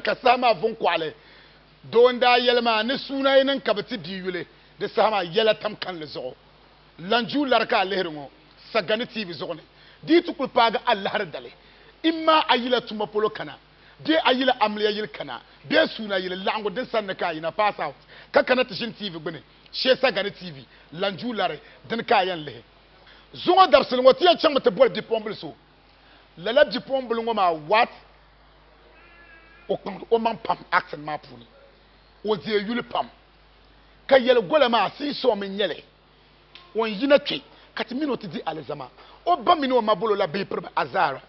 Ka saha maa vuŋ kɔɣili doo n-daa yɛli ma ni suuna yi niŋ ka bɛ ti bia yuli di saha maa, yɛla tam kanli zuɣu. Lanjuu lari ka a lihiri ŋɔ saga ni tiivi zuɣu ni di yi ti kuli paagi alahiri dali, imma a yila tuma polo kana bee a yila amiliya yili kana bee suuna yili laɣiŋgu din sanni ka a yina, pass out, ka kana ti ʒini tiivi gbini shee saga ni tiivi, lanjuu lari, dini ka a yɛn lihi. Zuŋɔ dabisili ŋɔ ti yɛn chaŋmi ti boli bipuɣimbili so. Lala bipuɣimbila ŋɔ maa what o kpaŋdi o maŋ pam acting maa puuni o deei yuli pam ka yɛli gola maa seesaw mi nyɛli o n yina kpe ka ti mini o ti di alizama o ba mini o ma bolo la bihi piriba azaara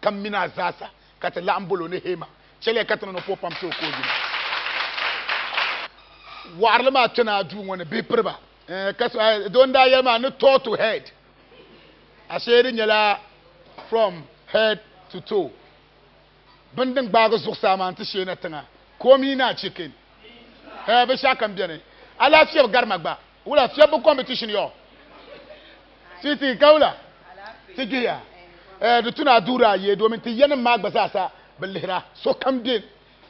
ka mini a zaasa ka ti laɣim bolo ni hee ma chɛliya ka ti ni ni o po pam ti o ka o yina wɔɣirili maa kpɛna a duu ŋɔ ni bihi piriba eh, ka so eh, doo n daa yɛli maa ni tall to head Ashe di nyɛla from head to toe bini din gbaagi zuɣusaa maa nti shee na tiŋa komi naa chicken hee binshɛɣu kam beni alahi fiɛbi gari ma gba wula fiɛbi bi competition yo sweetie ka wula ti gbihiya eh di tuna duura ayi domin ti yanim maa gba zaasa bi lihira sokam be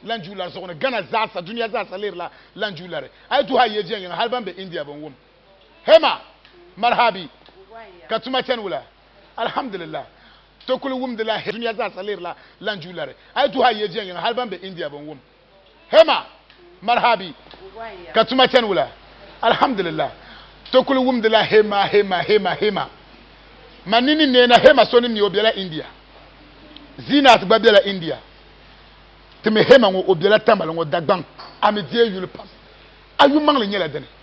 lan juulari zuɣu ni Ghana zaasa duniya zaasa lihirila lan juulari a yi duhi a yejiya yiŋa hali ban be India bin wum hema marhabi ka tuma chani wula alhamdulillah to kuli wumdila dunia zaasa leerila lan ju lari a yi duhi a yiya viɛnyɛŋa hali ban be India bin wum hema marhabi ka tuma chani wula alhamdulillah to kuli wumdila hema hema hema hema man ni ni neena hema so ni mi o bela India Zinat gba bela India timi hema ŋɔ o bela Tamale ŋɔ Dagbaŋ a mi deei yuli pam a yumaŋli nyɛla dini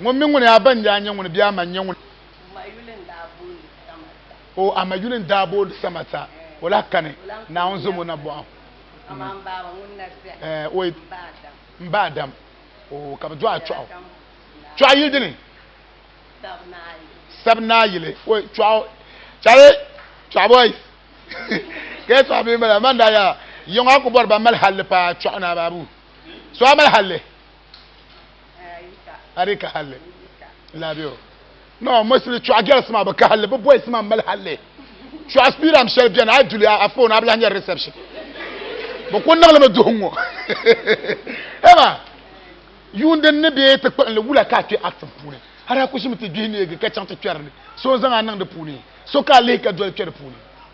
Ŋun mi ŋuni a ba n-daa nyɛ ŋuni bee a ma n-nyɛ ŋuni? O a ma yuli n-daa booni Samata. O lahi kani, Naawuni zom o nabɔɣu. Eh, o yi, m ba Adam. O, ka bɛ dɔɣi Chɔɣu. Chɔɣu yili dini? Sabinaa yili. O, Chɔɣu, Chɔɣu, Chɔɣu boys. Ka yi tɔɣi bɛ mala, man daa yaa, yiŋɔ a ku bɔri ba mali halli paa Chɔɣu ni a baabu. So a mali halli? ari ka halli laabio no mosili chuɣa gɛls maa bi ka halli bi boys maa mali halli chuɣa spiram shɛli bɛni a duli a foon a bi lahi nyɛri reception bi ku niŋlimi duhi ŋɔ ema yuun din ni bee ti kpuɣinli wula ka a kpɛ actin puuni hali a ku ʒimi ti gbihi neegi ka chaŋ ti kpɛri ni so n zaŋ a niŋ di puuni so ka a lihi ka doli kpɛ di puuni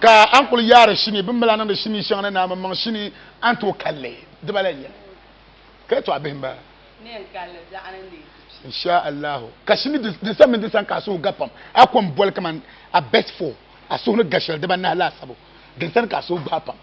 Ka an kuli yaari shini bin bala niŋdi shini shɛŋa ni naa maŋ shini an tooi kalli dibala n yɛli ka to a bihi ba insha allahu ka shini disa mini disan ka a suhu ga pam a kom boli kaman a best four a suhu ni ga shɛli dibanahi laasabu dinsani ka a suhu gbaai pam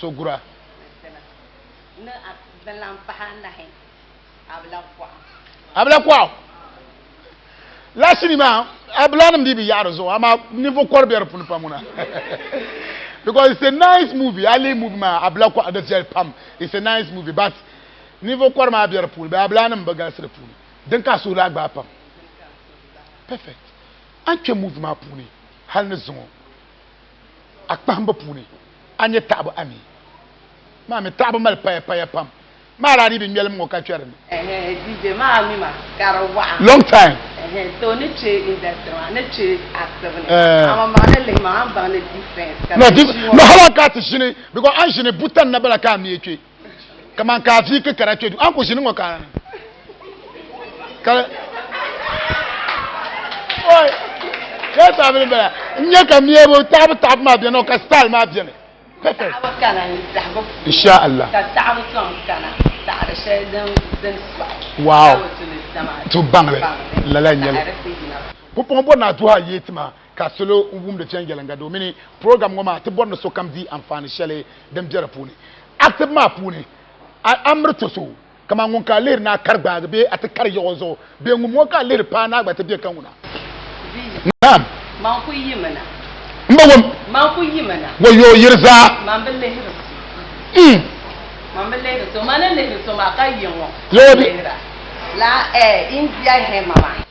sogura. Abila kuɣu la sini maa abila nim di bi yaɣari zuɣu amaa ninvuɣu kɔri bɛ di puuni pam ŋuna because it's a nice movie ali movie maa abila kuɣu di viɛli pam it's a nice movie but ninvuɣu kɔri maa bɛ di puuni bɛ abila nim bi galisi di puuni din ka suhu laa gbaai pam perfect an kpɛ movie maa puuni hali ni zuŋɔ a kpahimbu puuni, a nya taɣibu a mi maa mi taɣibu mali paya paya pam maa daa dii bi ŋmɛlim ŋɔ ka kpɛri ni. Long time. No, hali a ka ti ʒini because a ni ʒini buta n-na bala ka a mi kpe. kaman ka a vi kpi kara kpe du an ku ʒini ŋɔ ka ka oi ka taabili bala n nyɛ ka mɛbu taɣabu taɣabu maa bɛni ka style maa bɛni perfect insha Allah ka taɣabu tɔm kana taɣari shɛli din din sɔɣi wow tu baŋli lala nyɛli ku pɔŋ bɔ na duha yeeti maa ka salo wumdi viɛnyɛliŋga domini program ŋɔ maa ti bɔri ni sokam di anfaani shɛli din be di puuni. Asibu maa puuni, a miri to so, kaman ŋun ka a lihiri ni a kari gbaagi bee a ti kari yiɣi o zuɣu bee ŋun ŋɔ ka a lihiri paai ni a gba ti be ka ŋuna. Naam. Man ku yimi na. M ba wum. Man ku yimi na. Wayyoo yiri zaa. Man bi lihiri so. Mm. Man bi lihiri so. Man ni lihiri so maa ka yiŋɔ. Yoo di. Lihira. Laa eh, India hɛ mama.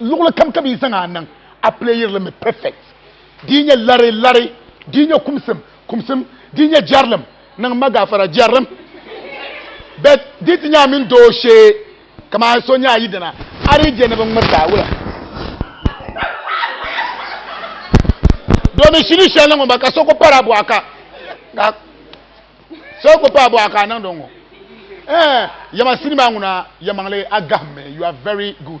luɣili kam ka bi yi zaŋ a niŋ a playiri li mi perfect di yi nyɛ lari lari di yi nyɛ kumsim kumsim di yi nyɛ jɛrilim niŋ ma gaafara jɛrilim bet di ti nyɛ a mini doo shee kaman so nyɛ a yidana a di je ni bi ŋmiriti a wula domin shini shɛli ŋɔ ba ka so ku pari a bɔɣa ka ka so ku pari a bɔɣa ka a niŋdi ŋɔ eh yɛma sinima ŋuna yɛmaŋli a gahimmi you are very good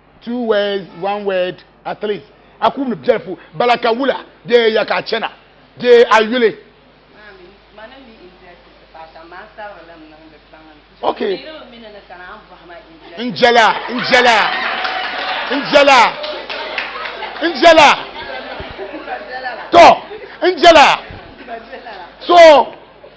two words one word at least a ku mi biɛli pu bala ka wula bee ya ka a chana bee a yuli ok n jɛla n jɛla n jɛla n jɛla tɔ n jɛla so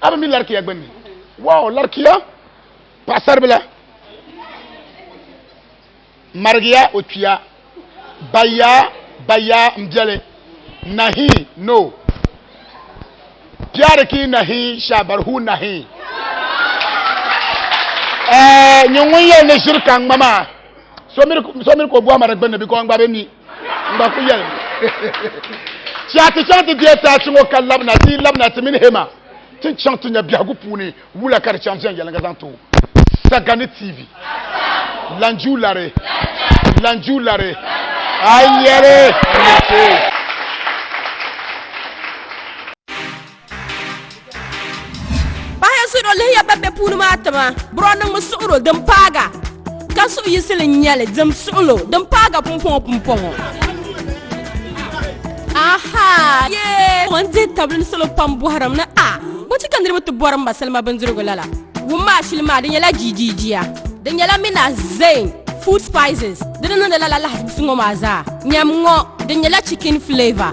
a bi mi larikiya gbunni waaw larikiya paɣasaribila marigiya o kpiya baya baya n biɛli nahi no biɛri ki nahi shabarhu nahi eh, nyɛ ŋun yɛli ni ʒiri ka ŋma maa so miri ka o bɔhima di gbunni bikɔ n gba bi mi N ba ku yɛli mi ti a ti chaŋ ti deei ti achi ŋɔ ka labina ti yi labina ti mini Hema ti ni chaŋ ti nya biɛhigu puuni wula ka di chaŋ viɛnyɛliŋga zaŋ ti o. Sagani TV. Lanjuu lari. Lanjuu lari. A yɛli. Paɣaya su do lihiya ban be puuni maa tima bro niŋmi suɣuro din paaga ka suɣu yisili n nyɛli dim suɣulo din paaga pumpɔŋɔ pumpɔŋɔ aha yee n dihi tabili ni salo pam bɔhirim ni a bɔchi ka niriba ti bɔri m ba salima bindirigu lala wum maa shili maa di nyɛla jiijiijiya di nyɛla mina zain food spices di ni niŋdi lala lahisim ŋɔ maa zaa nyam ŋɔ di nyɛla chicken flavor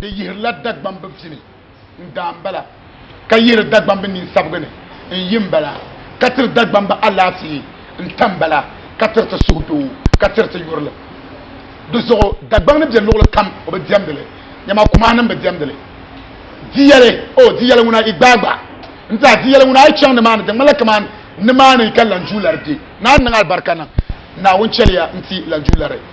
Di yihirila Dagbamb vini n-daa m-bala, ka yihiri Dagbamb ninsabigi ni n-yi m-bala, ka tiri Dagbamb alaafee n-ta m-bala, ka tiri ti suhudoo, ka tiri ti yurilim. Di zuɣu Dagbaŋ ni be luɣili kam o bi diɛmdi li, nyama kumahinim bi diɛmdi li. Di yɛli, O, di yɛli ŋuna, yi gbaai gba. N-daa, di yɛli ŋuna, a yi chaŋ nimaani, di ŋmanila kaman nimaani ka lanjuulari be. Naa niŋ alibarika niŋ Naawuni chɛliya n-ti lanjuulari.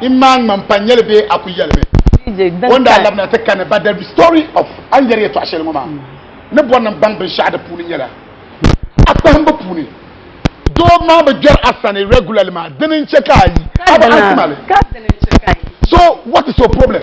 in maa ŋma n pa nyɛli bee a ku yɛlimi o ni daa labina ti kani but the story of a ni yɛri yɛtɔɣa shɛli ŋɔ maa ni bɔri ni n baŋ binshɛɣu di puuni nyɛla a kpahimbu puuni doo maa bi gbɛri a sani regularly maa dini n chɛ ka a yi a bi anti mali so what is your problem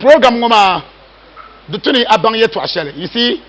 Program ŋɔ maa di tu ni a baŋ yɛtɔɣ shɛli, you see.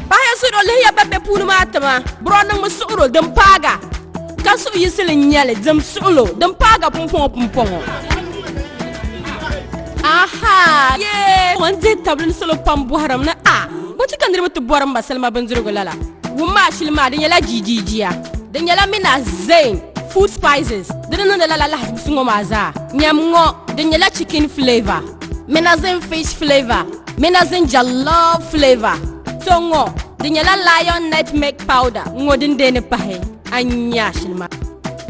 Bahi suɣuro lihiya ban be puuni maa tima buro niŋmi suɣuro din paaga ka suɣu yisili nyɛli dim suɣulo din paaga pumpɔŋɔ pumpɔŋɔ aha yee ŋun dihi tabili salo pam bɔhirim ni a bo ti ka niriba ti bɔrim ba salima bindirigu lala wum maa shili maa di nyɛla jiijiijiya di nyɛla mina zain food spices Di ni niŋdi lala lahizibusi ŋɔ maa zaa, nyam ŋɔ din nyɛla chicken flavour, minazin fish flavour, minazin jollof flavour, to ŋɔ di nyɛla lion nutmeg powder ŋɔ din deei ni pahi a ni nya shili maa.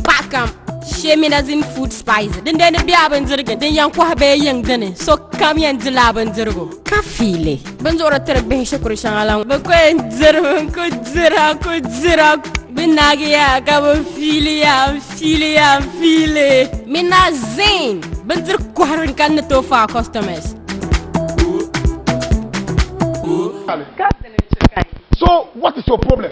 Paɣa kam shee minazin food spice din deei ni bɛ a bindirigu din yɛn kɔhi bee yiŋ dini, sokam yɛn dila a bindirigu ka fiili. Bin zuɣuri tiri bihi shikuru shɛŋa la bi ko n diri bin ko dira ko dira bi naagiya ka bi fiiliya fiiliya fiili min na zin bin diri kohari n kan ni to fa customers. So what is your problem?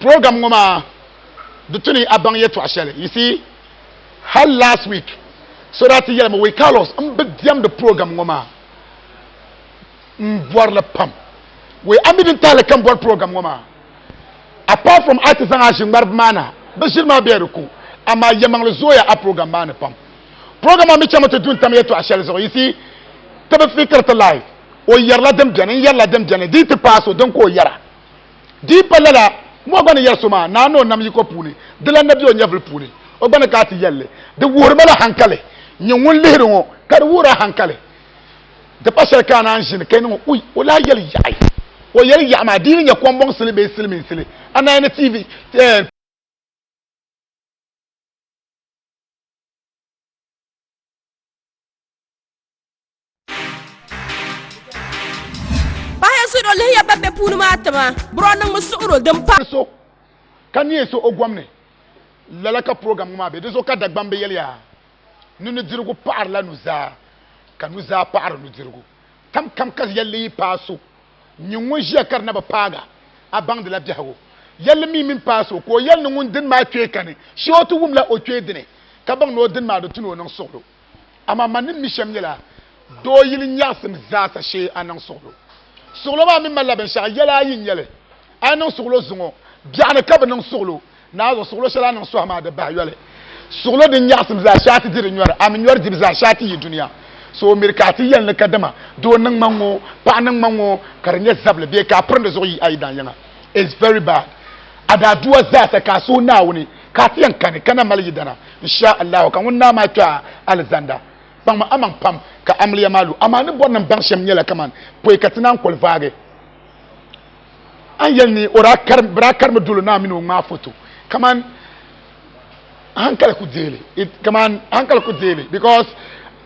program ŋɔ maa di tu ni a baŋ yɛtɔɣ shɛli you see hal last week so daa ti yɛlimi wei carlos n bi diɛmdi program ŋɔ maa n bɔri li pam wei a mi din tahali ka n bɔri program ŋɔ maa apart from a ti zaŋ a ʒi ŋmaribu maa na bi ʒiri maa bɛ di ku amaa yɛmaŋli zooya a program maa ni pam program maa mi chɛmi ti du n tam yɛtɔɣ shɛli zuɣu you see ti bi fikiri ti live o yɛrila din bɛni n yɛrila din bɛni di ti paai so din ka o yɛra Di yi pa lala, ŋun o gba ni yɛri so maa naai ni o nam yiko puuni, di lan na be o nyɛvili puuni, o gba ni ka a ti yɛl li. Di wuhiri ma la haŋkali, nyin ŋun lihiri ŋɔ, ka di wuhir a haŋkali. Di pa shɛli ka a naan ʒini, ka yi niŋ o, uy, o lahi yɛli yaɣi. O yɛli yaɣi maa, di yi ni nyɛ kɔmbɔŋsili bee silimiinsili, a naan yi ni TV, eh, Paɣa ya suhiro lihi ya ban be puuni maa tima. Bro niŋmi suhiro din pa. so ka neei so o gom ni. Lala ka program ŋɔ maa be. Dinzuɣu ka Dagbamb yɛliya ni nudirigu paɣirila nuzaa ka nuzaa paɣiri nudirigu. Kamkam ka yɛlli yi paai so, nyin ŋun ʒiya ka di na bi paag a, a baŋdila biɛhigu. Yɛlli mi mini paai so ka o yɛli ni ŋun dini maa kpee kani shee o ti wumla o kpee dini ka baŋ ni o dini maa di tu ni o niŋ suɣilo. amaa man ni mi shɛm nyɛla doo yili nyaɣisim zaasa shee a niŋ suɣulo. Suɣulo maa mi malila binshɛɣu yɛla ayi n-nyɛ li. A ni niŋ suɣulo zuŋɔ biɛɣu ni ka bi niŋ suɣulo, naanzuɣu suɣulo shɛli a niŋ sɔhi maa di bahi yoli. Suɣulo din nyaɣisim zaa shee a ti di di nyɔri, a mi nyɔri dibu zaa shee a ti yi dunia. So o miri ka a ti yɛli ni kadama doo niŋ ma ŋ-ŋɔ, paɣa niŋ ma ŋ-ŋɔ ka di nyɛ zabili bee ka a piri di zuɣu yi a yi daanyɛŋa. It's very bad. A daadua zaasa ka a suhi Naawuni. Ka a ti yɛn kani ka na mali yidana, inshaa Allahu, ka ŋun naa maa kpe a alizanda. Kpaŋmi amaŋ pam ka amiliya maa lu, amaa ni bɔrinim baŋ shɛm nyɛla kaman pɔi ka ti naan kɔli vaagi a ni yɛli ni o daa kari, bɛ daa karimi dolo naa mini o ŋmaa foto. Kaman hankali ku deei li, it, kaman hankali ku deei li because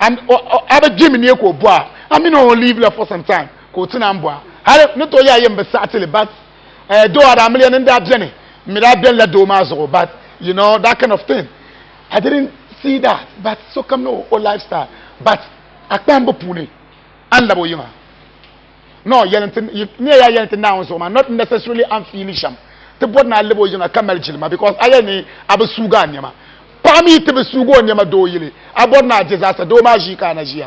a, o, o, a bi gbimi ni e ka o bɔa, a mini o leave la for some time ka o ti naan bɔa. Hali ni tooi yɛa yɛn bi saɣiti li but eh, doo a daa mili ya ni n daa beni n mi daa benila doo maa zuɣu but you know that kind of thing I didn't see that but sokam ni o lifestyle but a kpahimbu puuni a ni labi o yiŋa no yɛli nti ni ya yɛli nti naawuni zuɣu maa not necessarily an fiili shɛm ti bɔri ni a labi o yiŋa ka mali jilima because a yɛli ni a bi suugi a nɛma paɣa mi ti bi suugi o nɛma doo yili a bɔri ni a je zaasa doo maa ʒii ka a na ʒiya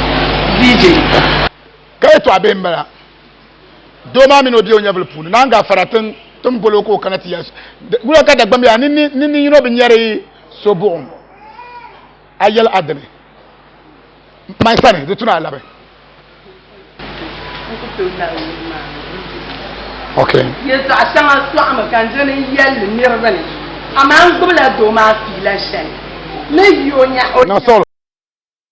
DJ. ka yɛtɔɣa bihi n bala doo maa mini o bia o nyɛvili puuni naan gaa fara tin tin golo ka o kana ti ya wula ka dagbam yaa nini nini yino bi nyɛri so buɣum a yɛli adini mai sani di tuna alabi ok yɛtɔɣa shɛŋa sɔɣimi ka n dini n yɛlli niriba ni amaa n gbubila doo maa fiila shɛli ni yo nya o na solo